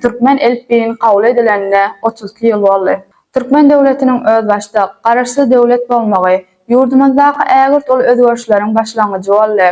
Türkmen elipbiýini kabul edilenine otuz iki ýyl boldy. Türkmen döwletiniň özbaşdak, garaşsyz döwlet bolmagy ýurdumyzdaky ägirt uly özgerişleriň başlangyjy boldy.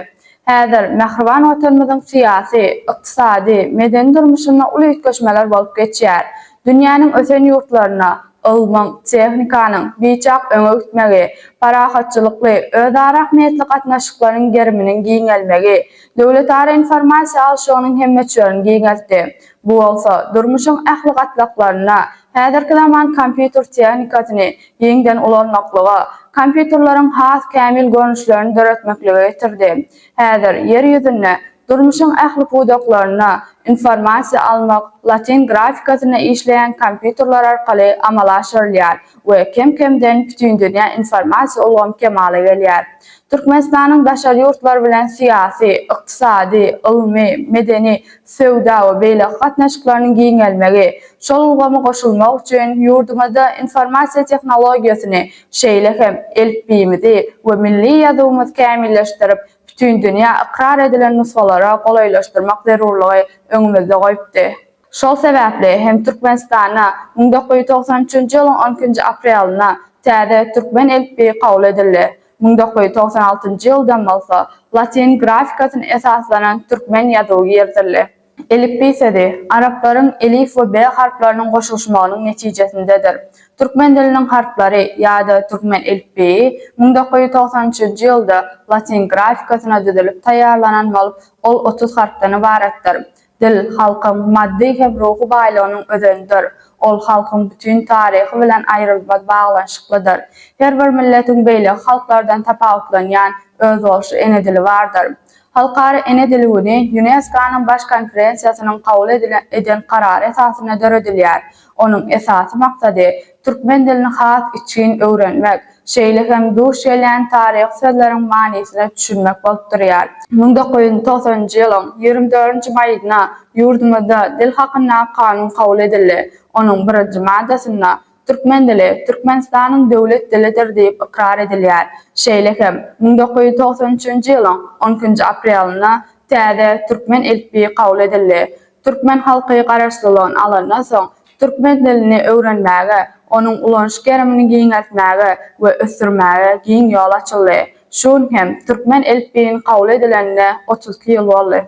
Häzir mähriban Watanymyzyň syýasy, ykdysady, medeni durmuşynda uly üýtgeşmeler bolup geçýär. Dünýäniň ösen ýurtlarynda ylmyň, tehnikanyň biçak öňe gitmegi, parahatçylykly, özara ähmiýetli gatnaşyklaryň geriminiň giňelmegi, Döwletara informasiýa alşygynyň hem möçberini giňeltdi. Bu bolsa, durmuşyň ähli gatlaklarynda häzirki zaman kompýuter tehnikasyny giňden ulanmaklyga, kompýuterleriň has kämil görnüşlerini döretmeklige getirdi. Häzir Ýer ýüzünde durmuşyň ähli pudaklarynda informasiýa almak latyn grafikasynda işleýän kompýuterler arkaly amala aşyrylýar. we kem-kemden bütindünýä informasiýa ulgamy kemala gelýär. Türkmenistanyň daşary ýurtlar bilen syýasy, ykdysady, ylmy, medeni, söwda we beýleki gatnaşyklarynyň giňelmegi, şol ulgamy goşulmak üçin ýurdumyzda informasiýa tehnologiýasyny, şeýle hem elipbiýimizi we milli ýazuwymyzy kämilleşdirip, bütindünýä ykrar edilen nusgalara golaýlaşdyrmak zerurlygy öňümizde goýupdy. Şol sebäpli hem Türkmenistanda müň dokuz ýüz togsan üçünji ýylyň on ikinji aprelinde täze türkmen elipbiýi kabul edildi, müň dokuz ýüz togsan altynjy ýyldan bolsa latyn grafikasyna esaslanan türkmen ýazuwy girizildi. Elipbiý sözi, araplaryň elif we be harplarynyň goşulyşmagynyň netijesindedir. Türkmen diliniň harplary ýa-da türkmen elipbiýi müň dokuz ýüz togsan üçünji ýylda latyn grafikasyna düzülip taýýarlanan bolup, ol otuz harpdan ybaratdyr. Dil, halkyň maddy hem ruhy baýlygynyň özenidir. Ol halkyň bütin taryhy bilen aýrylmaz baglanyşyklydyr. Her bir milletiň beýleki halklardan tapawutlanýan özboluşly ene dili bardyr. Halkara ene dili güni Ýunesko-nyň Baş konferensiýasynyň kabul eden karary esasynda döredilýär. Onuň esasy maksady, türkmen dilini has içgin öwrenmek, şeýle hem duş gelýän taryhy sözleriň manysyna düşünmek bolup durýar. Müň dokuz ýüz togsanynjy ýylyň ýigrimi dördünji maýynda ýurdumyzda Dil hakyndaky kanun kabul edildi. Onuň birinji maddasynda Türkmen dili Türkmenistanyň döwlet dilidir diýip ykrar edilýär. Şeýle hem, müň dokuz ýüz togsan üçünji ýylyň on ikinji aprelinde täze Türkmen elipbiýi kabul edildi. Türkmen halky garaşsyzlygyny alandan soň, türkmen dilini öwrenmäge, onuň ulanyş gerimini giňeltmäge we ösdürmäge giň ýol açyldy. Şu gün hem türkmen elipbiýini kabul edilenine otuz iki ýyl boldy.